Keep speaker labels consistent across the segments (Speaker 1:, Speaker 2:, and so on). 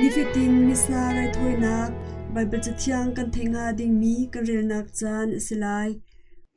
Speaker 1: Nifatin missa raithawinak Baibal Cathiang kan theih hnga dingmi kan relnak caan a si lai.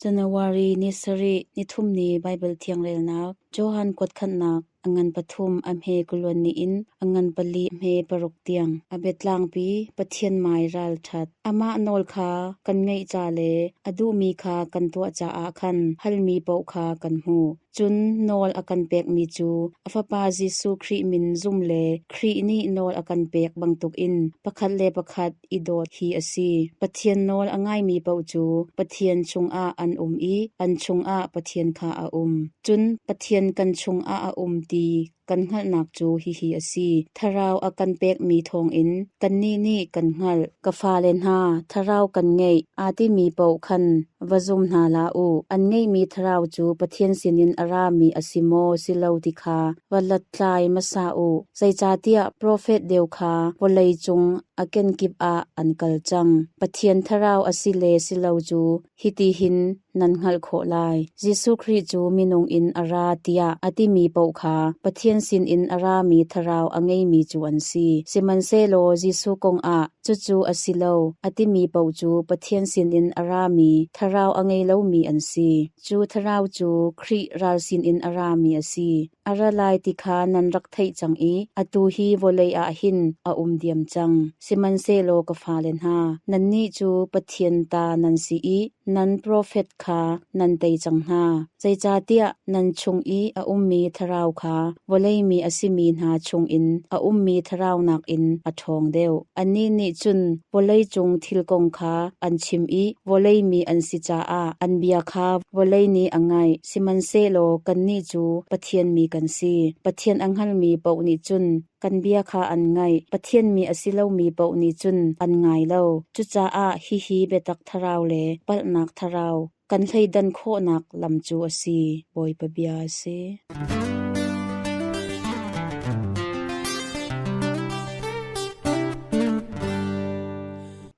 Speaker 1: January
Speaker 2: ni sarih nithum ni Baibal Thiangrelnak Johan kuatkhannak angan pathum amhe kulon ni in angan pali hme paruk tiang a betlangpi pathian mai ral that amah nawl kha kan ngaih ca le a duhmi kha kan tuah caah khan halmi paoh kha kan hmuh Cun nawl a kan pekmi cu a Fapa Jesuh Khrih min zum le Khrih nih nawl a kan pek bantukin pakhat le pakhat i dawt hi a si. Pathian nawl a ngaimi paoh cu Pathian chungah an um i an chungah Pathian kha a um. Cun Pathian kan chungah a um ti kan hngalhnak cu hihi a si: Thlarau a kan pekmi thawngin kannih nih kan hngalh. Ka fale hna, thlarau kan ngeih aa timi paoh khan va zum hna hlah u. An ngeihmi thlarau cu Pathian sinin a rami a si maw si lo ti kha va hlathlai hmasa u. Zeicahtiah profet deu kha vawlei cung a kenkip ah an kal cang. Pathian thlarau a si le si lo cu Hiti hin nan hngalh khawh lai, Jesuh Khrih cu minung in a ra tiah a timi paoh kha Pathian sinin a rami thlarau a ngeimi cu an si. Sihmanhsehlaw Jesuh kongah cucu a si lo, a timi paoh cu Pathian sinin a rami, thlarau a ngei lomi an si. Cu thlarau cu Khrih ral sinin a rami a si. A ra lai ti kha nan rak theih cang i atu hi vawlei ah hin a um diam cang, sihmanhsehlaw ka fale hna, nannih cu Pathian ta nan si i nan profet kha nan tei cang hna. Zeicahtiah nan chung i a ummi thlarau kha vawlei mi a simi hna chungin a ummi thlarau nakin a ṭhawng deuh. Annih nih cun vawlei cung thil kong kha an chim i vawlei mi an si caah an bia kha vawlei nih a ngaih. Sihmanhsehlaw kannih cu Pathian mi kan si. Pathian a hngalmi paoh nih cun kan bia kha an ngaih, Pathian mi a si lomi paoh nih cun an ngai lo. Cucaah hihi biatak thlarau le palhnak thlarau kan thleidan khawhnak lam cu a si, Bawipa bia a si.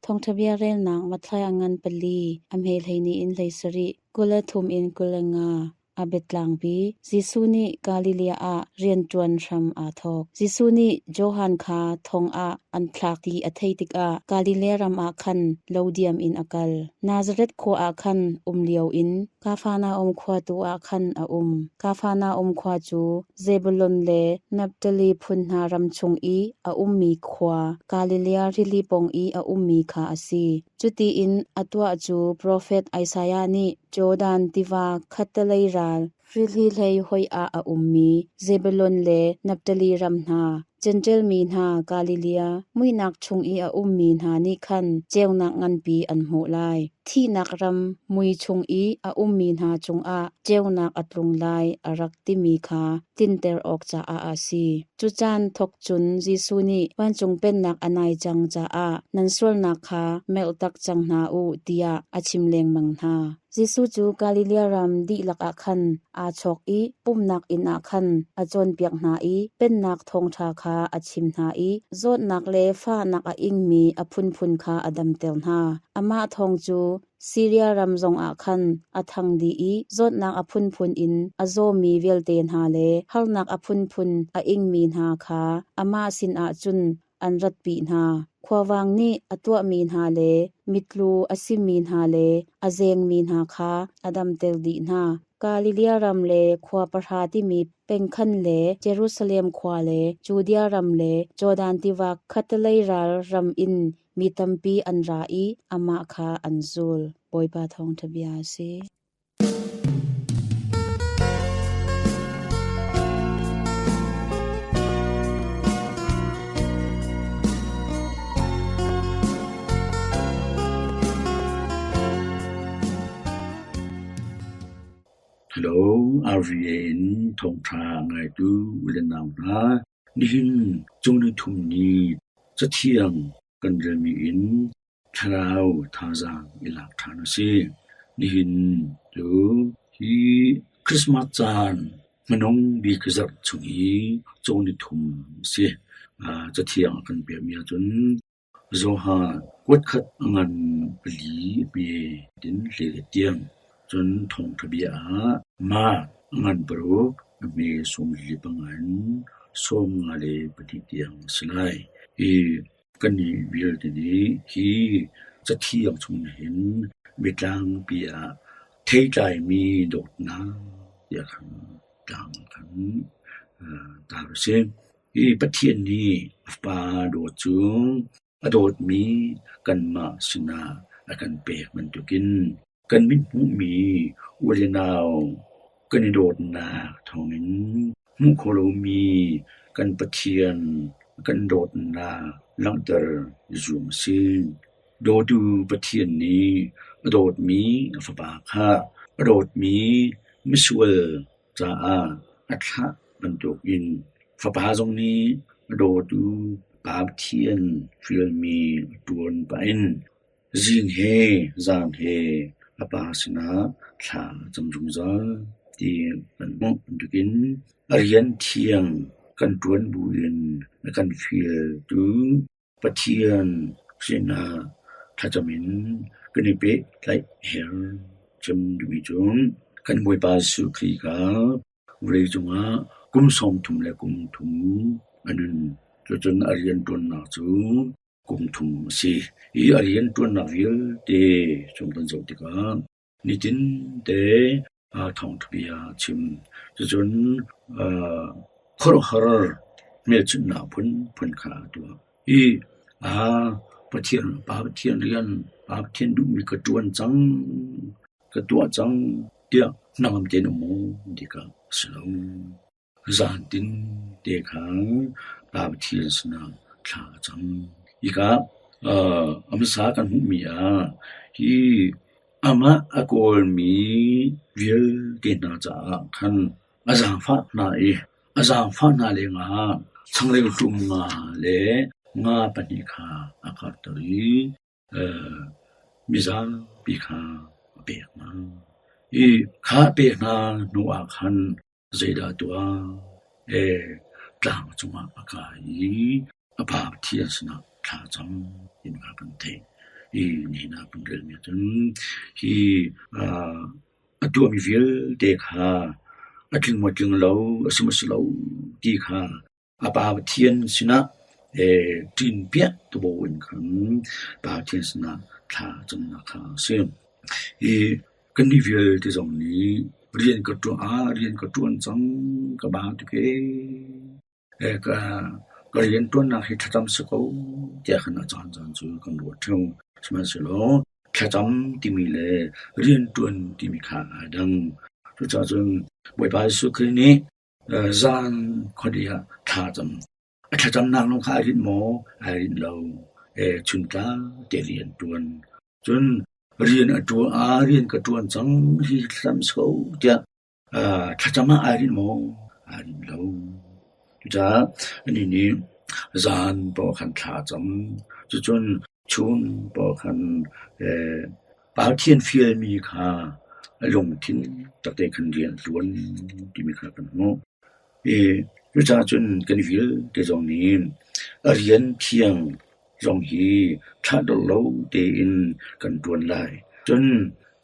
Speaker 2: Thawngṭhabia relnak Matthai a ngan pali a hme hleini in hlei sarih. Kul le thum in kul le nga a biatlangpi. Jesuh nih Galilee ah rianṭuan hram aa thawk. Jesuh nih Johan kha thong ah an thlak i a theih tikah Galilee ram ah khan lo diam in a kal. Nazareth khua ah khan um lio in Kafarnaum khua tu ah khan a um. Kafarnaum khua cu Zebulun le Naftali phun hna ram chung i a ummi khua, Galilee rili pong i a ummi kha a si. Cutiin a tuah cu profet Isaiah nih Jordan tiva khattelei ral hrihli hlei hoi ah a ummi Zebulun le Naftali ram hna, Jentail mi hna Galilee muihnak chung i a ummi hna nih khan ceunak nganpi an hmuh lai. Thihnak ram mui chung i a ummi hna cungah ceunak a tlung lai, a rak timi kha tlinter awk caah a si. Cu caan thawk cun Jesuh nih vancung pennak a nai cang caah nan sualnak kha melh tak cang hna u tiah a chim lengmang hna. Jesuh cu Galilee ram dihlak ah khan aa chawk i pumhnak inn ah khan a cawnpiak hna i pennak thawngṭha kha a chim hna i zawtnak le fahnak a ingmi a phunphun kha a damter hna. Amah thawng cu Siria ram zongah khan a thang dih i zawtnak a phunphun in a zawmi vialte hna le harnak a phunphun a ingmi hna kha amah sinah cun an ratpi hna. Khuavang nih a tuahmi hna le mitlu a simi hna le a zengmi hna kha a damter dih hna. Galilia ram le khua pahra timi pengkhan le Jerusalem khua le Judea ram le Jordan tiva khattelei ral ram in Mi tampi an ra i amah kha an zul. Bawipa thawngṭha bia a si.
Speaker 3: Hello, RVA in thawngṭha ngaitu u le nau hna. Nihin cungnung nithum ni Cathiang kan relmi in thlarau thazaang i lak ṭhan a si. Nihin cu hi Christmas caan hmanung bik zarh chung i cungnung nithum a si. Cathiang a kan piahmi ahcun Johan kuatkhat ngan pali hme in leh a tiam, cun thawngṭha bia ah mark ngan paruk a hme sawmli panga in sawmnga le pahnih tiang a si lai i kannih vialte nih hi Cathiang chung nih hin biatlangpi ah theitlaimi dawtnak tiah khan tlang khan tar u si. Hi Pathian nih a Fa dawt cu a dawtmi kanmah sinah a kan pek bantukin kan mithmuhmi u le nau kan i dawtnak thawngin hmuh kho lomi kan Pathian kan dawtnak langhter i zuam a si. Dawtu Pathian nih a dawtmi a Fapa kha a dawtmi misual caah a thlah bantukin fapa zong nih a dawtu pa Pathian hrialmi a ṭuan pah in zing he zan he a pa sinah thla a cam zungzal ti kan hmuh bantukin a rian thiang kan ṭuan buin a kan fialtu Pathian sinak thlacam in kan i pehtlaih her cem duhmi cu kan Bawipa Jesuh Khrih kha vawleicung ah kum sawm thum le kum thum a nun. Cucun a rianṭuannak cu kum thum a si i a rianṭuannak vialte chung kan zoh tikah Nitin te aa thawngthabia a chim. Cucun khuaruahhar hmelchunhnak phunphun kha a tuah i Pathian, Pa Pathian rian, Pa Pathian duhmi ka ṭuan cang, ka tuah cang tiah hnangam tein a um ti kha a si lo. Zaantin te kha tlauthi sinah thla a cam. Hika a hmasa kan hmuhmi ah hi amah a kawlmi vialte hna caah khan a zaangfah hna i a zaangfah hna lengah changreu ṭum nga le nga pahnih kha a karhter i Mi zapi kha a pek hna i kha pek hna hnu ah khan zeidah tuah? Tlang cungah a kai i a pa Pathian sinah thla cam ti kha kan theih i nihin ah kan relmi ah cun hi a tuahmi vialte kha a tling maw tling lo a si maw si lo ti kha a Pa Pathian sinah ṭin piak tubuin khan Pa Pathian sinah thla camnak kha a si. Hi kannih vialte zong nih rian ka ṭuan ah rian ka ṭuan cang ka ba tuke ka rianṭuannak hi thlacam si ko tiah khan a caancaan cu kan ruat ṭheo. Sihmanhsehlaw thlacam timi le rianṭuan timi kha aa dang. Cucacun Bawipa Jesuh Khrih nih Zan khuadih ah thla cam. A thlacamnak lawng kha ai rinh maw? Ai rinh lo. Chuntlang te rian ṭuan. Cun rian a ṭuan, aa rian ka ṭuan cang hi hlam sau tiah thlacam ah ai rinh maw? Ai rinh lo. Cucaah anih nih zan pawh khan thla a cam. Cucun Chun pawl khan palthian fialmi kha a lungthin takte khan rian a ṭuan timi kha kan hmuh. I cucaah cun kan vialte zong nih a rian thiang zong hi ṭhahdolh lo tein kan ṭuan lai. Cun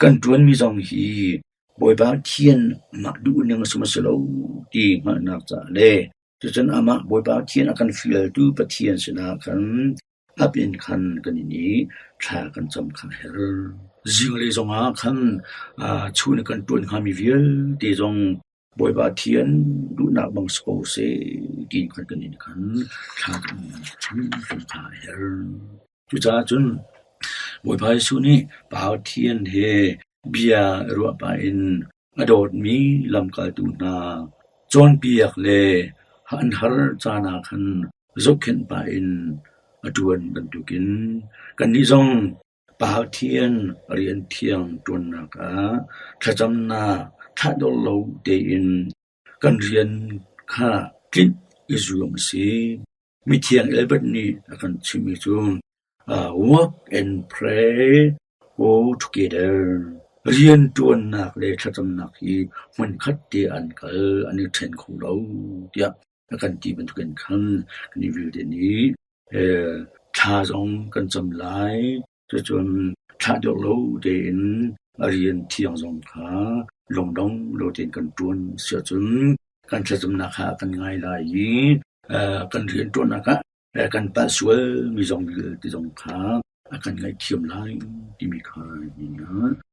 Speaker 3: kan ṭuanmi zong hi Bawipa thian amah duhning sihmanhsehlaw ti hngalhnak caah le cucun amah Bawipa thian a kan fialtu Pathian sinah khan Hlap in khan kan in i thla kan cam kha a herh. Zinglei zongah khan chu nih kan ṭuan hngami vialte zong Bawipa Thian duhnak bang si ko seh ti khan kan in khan thla kan cam kha a herh. Cucaah cun Bawipa Jesuh nih Pa Pathian he bia i ruah pah in a dawtmi lamkaltu hna cawnpiak le an har caan ah khan zohkhenh pah in a ṭuan bantukin kannih zong Pathian rian thiang ṭuannak ah thlacamnak thahdor lo tein Kan rian kha tlinh i zuam a si. Mithiang Elbert nih a kan chimh i cun work and pray go together. Rianṭuannak le thlacamnak hi hmunkhat te an kal, an i ṭhen kho lo tiah a kan ti bantukin khan kan i vialte nih thla zong kan cam lai. Cucun thlah deuh lo tein a rian thiang zong kha lungdong lo tein kan ṭuan siahcun kan thlacamnak kha a kan ngai lai i kan rianṭuannak ah kan palh sualmi zong vialte zong kha a kan ngaihthiam lai timi kha a hmuh hna.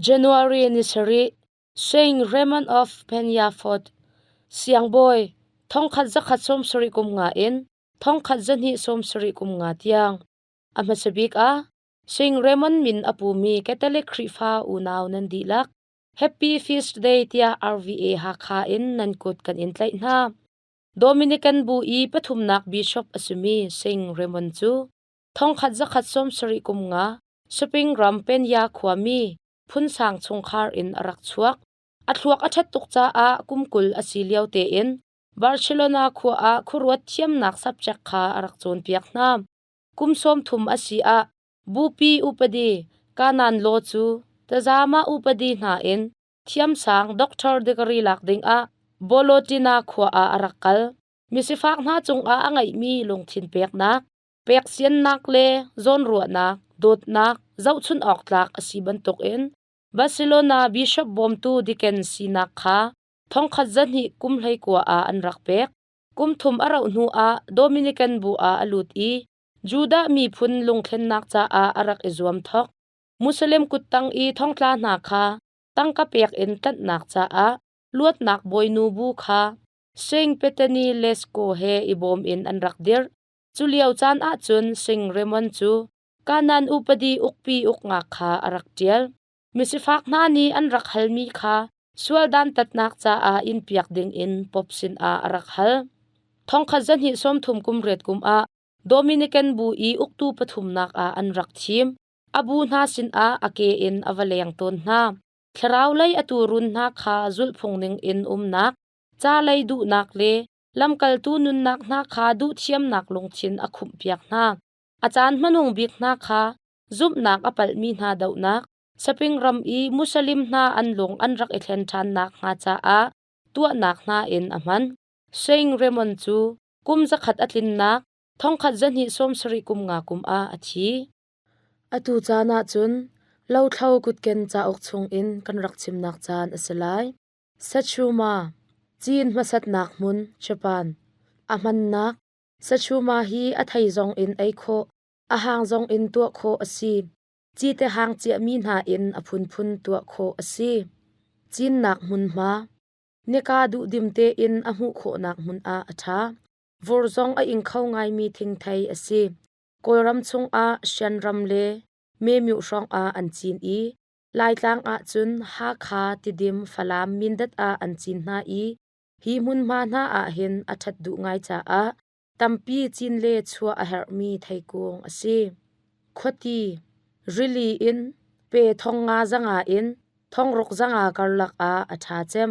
Speaker 4: January ni sarih Sing Raymond of Peñafoot siangbawi thongkhat zakhat sawm sarih kum nga in thongkhat zahnih sawm sarih kum nga tiang a hmasabik a Sing Raymond min a pumi Catholic Khrihfa unau nan dihlak Happy Feast Day tiah RVA Hakha in nan kut kan in tlaih hna Dominican bu i pathumnak bishop a simi Sing Raymond cu thongkhat zakhat sawm sarih kum nga Spring ram Peña khuami phunsang chungkhar in a rak chuak. A thluak a ṭhat tuk caah kum kul a si lio tein Barcelona khua ah khuaruat thiamnak subject kha a rak cawnpiak hna. Kum sawm thum a si ah bupi upadi Kanan law cu tazama upadi hna in Thiamsang doctor degree lak dingah Bolotina khua ah a rak kal. Misifak hna cungah a ngeihmi lungthin peknak, peksiannak le zawnruahnak, dawtnak zohchunh awk tlak a si bantukin Barcelona bishop bawmtu Dickens sinak kha thongkhat zahnih kum hleikua ah an rak pek. Kum thum a rauh hnu ah Dominican bu ah a lut i Judah miphun lungthlennak caah a rak i zuam thok. Muslim kuttang i thongtla hna kha tangka pek in ṭanhnak caah luatnak bawinu bu kha Sing Petani Lesko he i bawm in an rak dirh. Culio caan ahcun Sing Raymond cu Kanan upadi ukpi uknak kha a rak ṭial. Misifak hna nih an rak halmi kha sual dantatnak caah inpiak dingin Pope sinah a rak hal. Thongkhat zahnih sawmthum kum riat kum ah Dominican bu i uktu pathumnak ah an rak thim. A bu hna sinah a ke in a va leng tawn hna. Thlaraulei a tuurun hna kha zulhphung ningin umnak, ca lei duhnak le lamkaltu nunnak hna kha duhthiamnak lungthin a khumhpiak hna. A caan hmanung bik hna kha zumhnak a palhmi hna dohnak, saping ram i Muslim hna an lung an rak i thlen ṭhannak hnga caah tuahnak hna in a hman. Sein Raymond cu kum zakhat a tlinnak thongkhat zahnih sawm sarih kum nga kum ah a thi. Atu caan ah cun lothlo kutken cauk chungin kan rak chimnak caan a si lai. Sachuma, Cin hmasatnak hmun, Japan. A hmannak, Sachuma hi a thei zong in ei khawh, a hang zong in tuah khawh a si. Ci te hang ciahmi hna in a phunphun tuah khawh a si. Cinnak hmunhma, nika duh dim tein a hmuh khawhnak hmun ah a ṭha. Vur zong a ing kho ngaimi thingthei a si. Kawlram chungah Shanram le Mymyo hrawngah an cin i Laitlang ahcun Hakha, Tidim, Falam, Mindat ah an cin hna i hi hmunhma hna ahhin a ṭhat duh ngai caah tampi cin le chuah a herhmi theikung a si. Khuati, rili in, pe thong nga zanga in, thongruk zanga karlak ah a ṭha cem.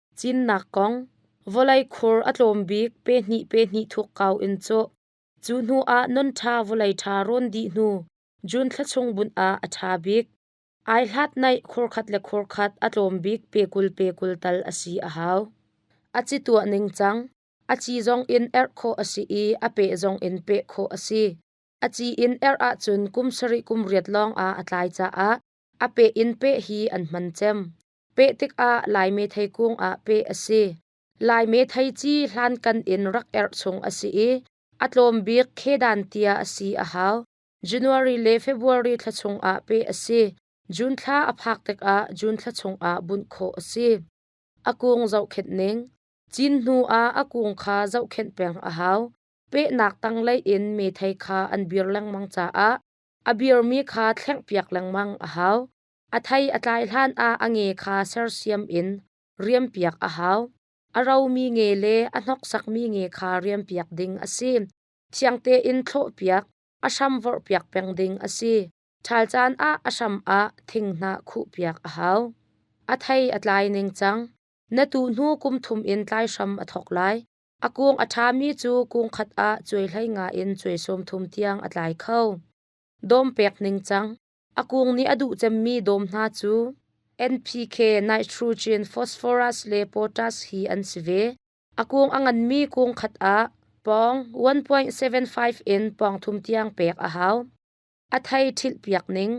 Speaker 4: Cinnak kong vawlei khur a tlawm bik pe hnih pe hnih thuk kau in cawh. Cu hnu ah non ṭha vawlei ṭha rawn dih hnu June thla chung bunh ah a ṭha bik. Ai hlat naih khurkhat le khurkhat a tlawm bik pe kul pe kul tal a si a hau. A ci tuah ning cang. A ci zong in erh khawh a si i a pe zong in pe khawh a si. A ci in erh ahcun kum sarih kum riat lawng ah a tlai caah a pe in pe hi an hman cem. Peh tikah Laime thei kung ah peh a si. Laime thei ci hlankan in rak erh chung a si i a tlawm bik khedan tia a si a hau. January le February thla chung ah peh a si. June thla a phak tikah June thla chung ah bunh khawh a si. A kung zohkhenh ning. Cin hnu ah a kung kha zohkhenh peng a hau. Pehnak tanglei in me thei kha an bir lengmang caah a birmi kha thlengh piak lengmang a hau. A thei a tlai hlanah a nge kha sersiam in riampiak a hau. A romi nge le a hnoksakmi nge kha riampiak ding a si. Thiang tein thlawhpiak, a hram vorhpiak peng ding a si. Ṭhal caan ah a hram ah thinghnah khuhpiak a hau. A thei a tlai ning cang. Na tu hnu kum thum in tlai hram a thawk lai. A kung a ṭhami cu kung khat ah cuai hlei nga in cuai sawm thum tiang a tlai kho. Dawm pek ning cang. A kung nih a duh cemmi dawm hna cu NPK nitrogen, phosphorus le potash hi an si ve. A kung a nganmi kung khat ah pawng 1.75 in pawng thum tiang pek a hau. A thei ṭhilhpiak ning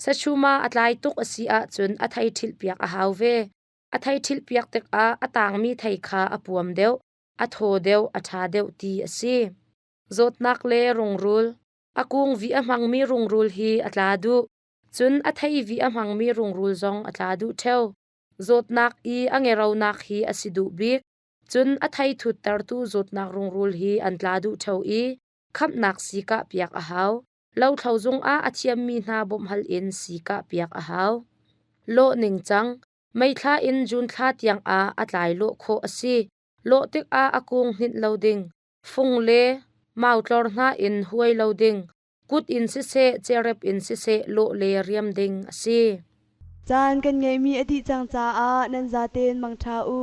Speaker 4: Sachuma a tlai tuk a si ahcun a thei ṭhilhpiak a hau ve. A thei ṭhilhpiak tikah a tangmi thei kha a puam deuh, a thaw deuh, a ṭha deuh ti a si. Zawtnak le rungrul A kung vi a hmangmi rungrul hi a tla duh. Cun a thei vi a hmangmi rungrul zong a tla duh ṭheo. Zawtnak i a ngeronak hi a si duh bik. Cun a thei thuttertu zawtnak rungrul hi an tla duh ṭheo i khamhnak si kah piak a hau. Lothlo zungah a thiammi hna bawmhhal in si kah piak a hau. Lawh ningcang meithla in June thla tiangah a tlai lawh khawh a si. Lawh tikah a kung hninh lo ding. fung le mautlor hna in huai lo ding, kut in siseh cerep in siseh lawh le riam ding a si.
Speaker 5: Caan
Speaker 4: kan
Speaker 5: ngeihmi a dih cang caah nan zaten mangṭha u.